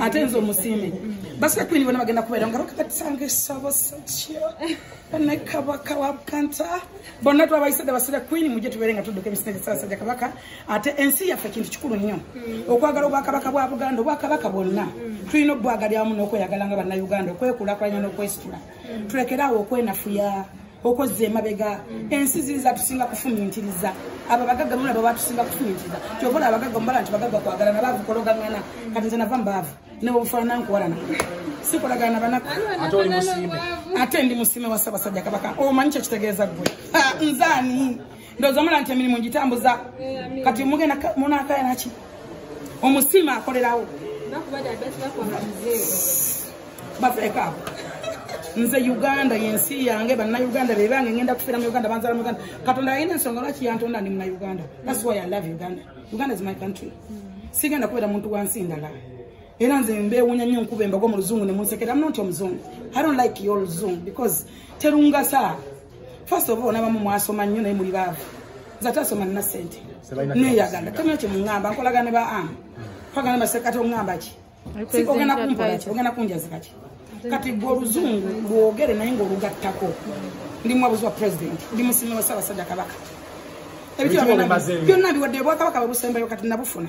ate nze omusiime basika kwini bona bagenda kubeera nga bakabatisanga esabo sakyo ne kabaka wa bukanta bonna twabayisadde basira kwini mujje tubeere nga tudduka emisina gyesabasajja kabaka ate ensi yaffe kintu kikulu nnyo okwagala obwakabaka bwa buganda obwakabaka bwonna tulina obwagalyamu n'okweyagala nga bannauganda okwekulakulanya n'okwesitula tulekeraawo okwenafuya okozza emabega ensi ziri zatusinga kufumintiriza abo abagagga mulaba batusinga kufumintiriza kyova ola abagagga mubala nti bagagga kwagalana baavu kologangana kati nze nava mbaavu newobufaanana nkuwalana sikolagana nabanaku ate ndi musime wa ssabasajja kabaka omanyi kyekitegeeza ggwe nzaani ndoza mula nti emirimu ngitambuza kati mugenda munakaya naki omusiima akolerawo bafeeko abo nze uganda yensi yange banauganda bebange ngenda kufira muuganda banzala muuganda katonda ayina ensonga lwaki yantonda ndi munauganda thats why i love uganda uganda is my country sigenda kubeera muntu wansi ndala era nze mbewunya nnyo nkuba embago mu luzungu nemunsekera mnonti omuzungu i don't like your luzungu because terungasa first of all nabamu mwasoma nnyo naye muli baavu nze ate asoma nina sente neyagala tamina kyemuŋamba nkolagana ne ba am twagana basekati oŋamba ki ogenda kumpola ki ogenda kunjazika ki kati gwe oluzungu lwogere naye ngaolugattako ndi muwabuzi wa president ndi musimi wa ssaabasajja kabaka ebityona byonna biwadde bwakabaka babusembayo kati nabufuna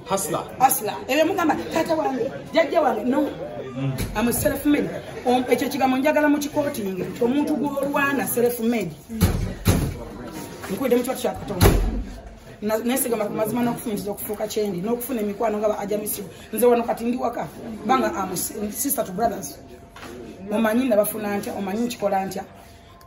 hasla hasla ebyo mugamba tata wange jajja wange no mm. am a self made um, ekyo kigambo njagala mu kikooti nge omuntu gwolwana self made nkwidde mu kikooti kyakatonda nesigama ku mazima n'okufunyiza okufuuka kyendi n'okufuna emikwano nga ba ajamisibu nze wano kati ndi waka banga am sister to brothers omanyi nabafuna ntya omanyi nkikola ntya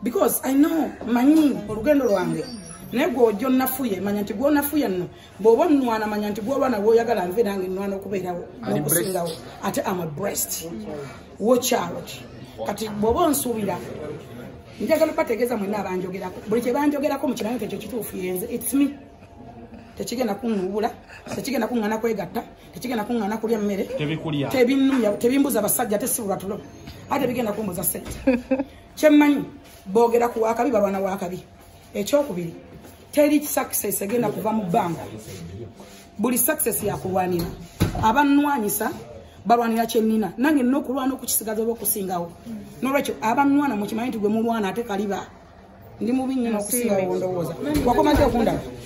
because i know manyi olugendo lwange naye gwe ojja onafuye manya nti gwonafuye nno bwoba onwana manya nti gwolwana gwoyagala nve nange nwana okubeerawo nokusingawo ate am breast watch out kati bwoba onsuubira njagala bategeeza mwena abanjogerako buli kyebanjogerako mukirayo nti ekyo kituufu yenze its me tekigenda kunuubula tekigenda kuŋŋana kwegatta tekigenda kuŋŋana kulya mmere tebinumya tebimbuza basajja ate si bulwatulo ate bigenda kumbuza sente kyemmanyi boogera ku wakabi balwana wakabi ekyokubiri teri success egenda kuva mu bbanga buli success yakulwanira abanwanyisa balwanira kyenina nange nina okulwana okukisigaza oba okusingawo nolwekyo abanwana mukimanyi nti gwe mulwana ate kaliba ndi mubi nyina okusingawo ndowooza wakomaze okundaba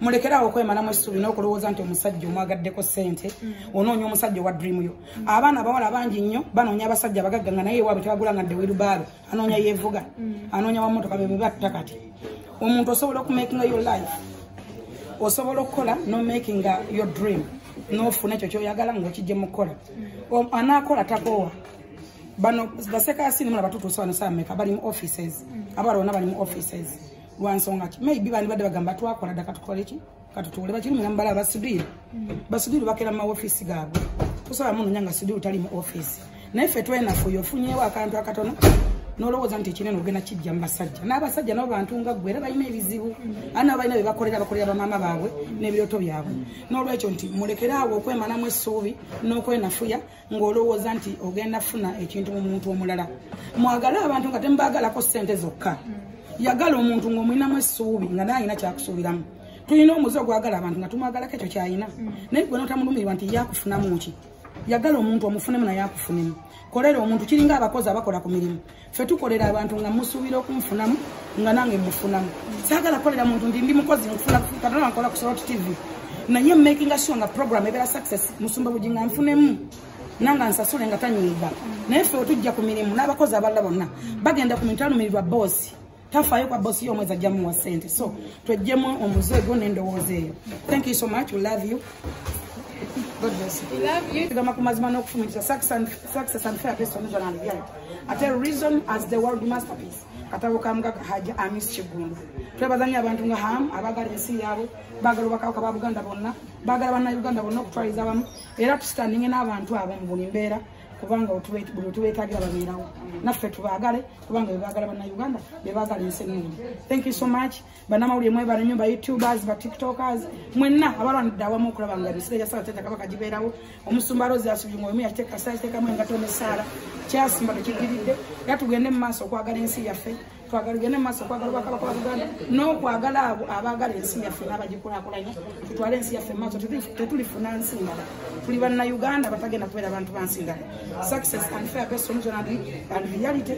mulekerawo okwemalamu essuubi n'okulowooza nti omusajja omwagaddeko ssente mm. onoonya omusajja owa dream yo mm. abaana abawala bangi nnyo banoonya abasajja abagagga nga naye ewaabwe tebagula nga ddewirubaalo anoonya yeevuga mm. anoonya wamotoka be bebatta kati omuntu osobola okumakinga your life osobola okukola nomakinga your dream nofuna ekyo kyoyagala ngaokijje mukukola anaakola takoowa bano basekasini mulabatutuusa bano saameka bali mu offices abawala bona bali mu offices lwansonga ki maybe bandi badde bagamba twakola dda katukola eki katutuule bakiri mulamu bala basudiru basudiru bakera mu maofiisi gaabwe tosobola munonya nga sudiru tali mu ofiisi naye ffe twenafuyo ofunyewo akantu akatono nolowooza nti ekinene ogenda kijja mu basajja n'abasajja nabo bantu nga ggwe era balina ebizibu a nabo balina bebakolera bakolera bamaama baabwe n'ebirooto byabwe n'olwekyo nti mulekeraawo okwemanamu essuubi n'okwenafuya ng'olowooza nti ogenda funa ekintu mu muntu omulala mwagale abantu nga temubagalako ssente zokka yagala omuntu ng'omulinamu essuubi nga naye alina kyakusuubiramu tulina omuzi ogwagala abantu nga tumwagalako ekyo kyalina naye gwe notamulumirirwa nti yakufunamu ki yagala omuntu omufunemu naye akufunemu kolera omuntu kiringa abakozi abakola ku mirimu ffe tukolera abantu nga musuubira okunfunamu nga nange mufunamu saagala kukolera muntu nti ndi mukozi nfuna katonda nkola ku sorot tv naye makinga sure nga program ebeera success musumba bugi nga nfunemu nanga nsasule nga tanyiiga naye ffe wetujja ku mirimu n'abakozi abalala bonna bagenda ku mintu alumirirwa boosi tafayo kwa bosi yo mweza jamu wa sente so twejjemu omuze go nendo woze thank you so much we love you God bless you. We love you. Kama kumazima no kufumikisa success and success and fair place on the land. Yeah. At a reason as the world masterpiece. Katabo kamga haja amis chigundu. Twebazanya abantu nga ham abagari nsi yabo bagalo bakawka ba Buganda bonna bagala bana Uganda bonna okutwaliza bamu era tustanninge n'abantu abo mu buli mbeera kubanga otubetagira babeerawo naffe tubagale kubanga bebagala bana uganda bebagala ensi ennungi thank you so much banamawulire mwebale nyo bayoutubers batiktokers mwenna abalwanidde awamu okulaba nga emisira gyasala teta kabaka gibeerawo omusumba rozi asubye nga omu yakiteekasaatekamu engato nesaala kyasimba tekigiridde era tugende mu maaso okwagala ensi yaffe twagala gende mu maaso okwagala obwakabaka wa buganda n'okwagala abo abaagala ensi yaffe n'abagikulakulanya tutwale ensi yaffe mu maaso tetulifuna nsi ndala tuli bannayuganda batagenda kubeera bantu bansi ndala success and fair based on journality and reality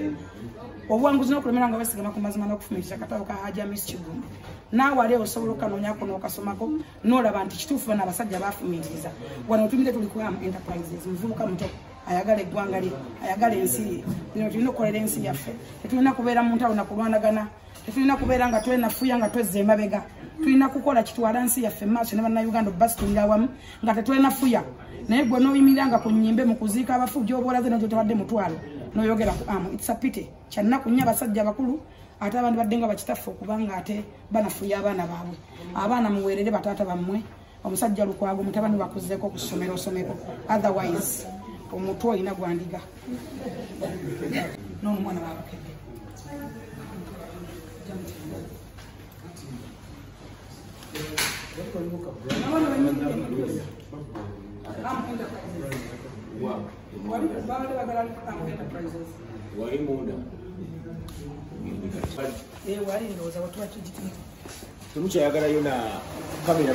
obuwanguzi n'okulemera nga basigama ku mazima n'okufuna ekitakato ka haja miss kigumba naawe ali osobola okukanoonyako n'okasomako n'olaba nti kituufu bano abasajja baafumiitiriza wano otumire tuli ku am enterprises muvubuka muto ayagala eggwanga lye ayagala ensi ye bino tulina okukolera ensi yaffe tetulina kubeera mu ntalo na kulwanagana tetulina kubeera nga twenafuya nga twezza emabega tulina kukola kitwala nsi yaffe maaso ne bannayuganda obubasitulira awamu nga tetwenafuya naye gwe noyimirira nga ku nyimbe mu kuziika abafu gyobolaze nakyo tebadde mutwalo noyogera ku amu itsapite kyannaku nnyo abasajja abakulu ate abantu badde nga bakitaffe okubanga ate banafuya abaana baabwe abaana muweerere bataata bammwe omusajja lukwago mutabani wakuzeeko ku ssomero osomeko otherwise omutwe olina gwandiga n'omwana wabukedde wali munda eh, wali ndowooza watuwa kigitini temukyayagalayo na kamera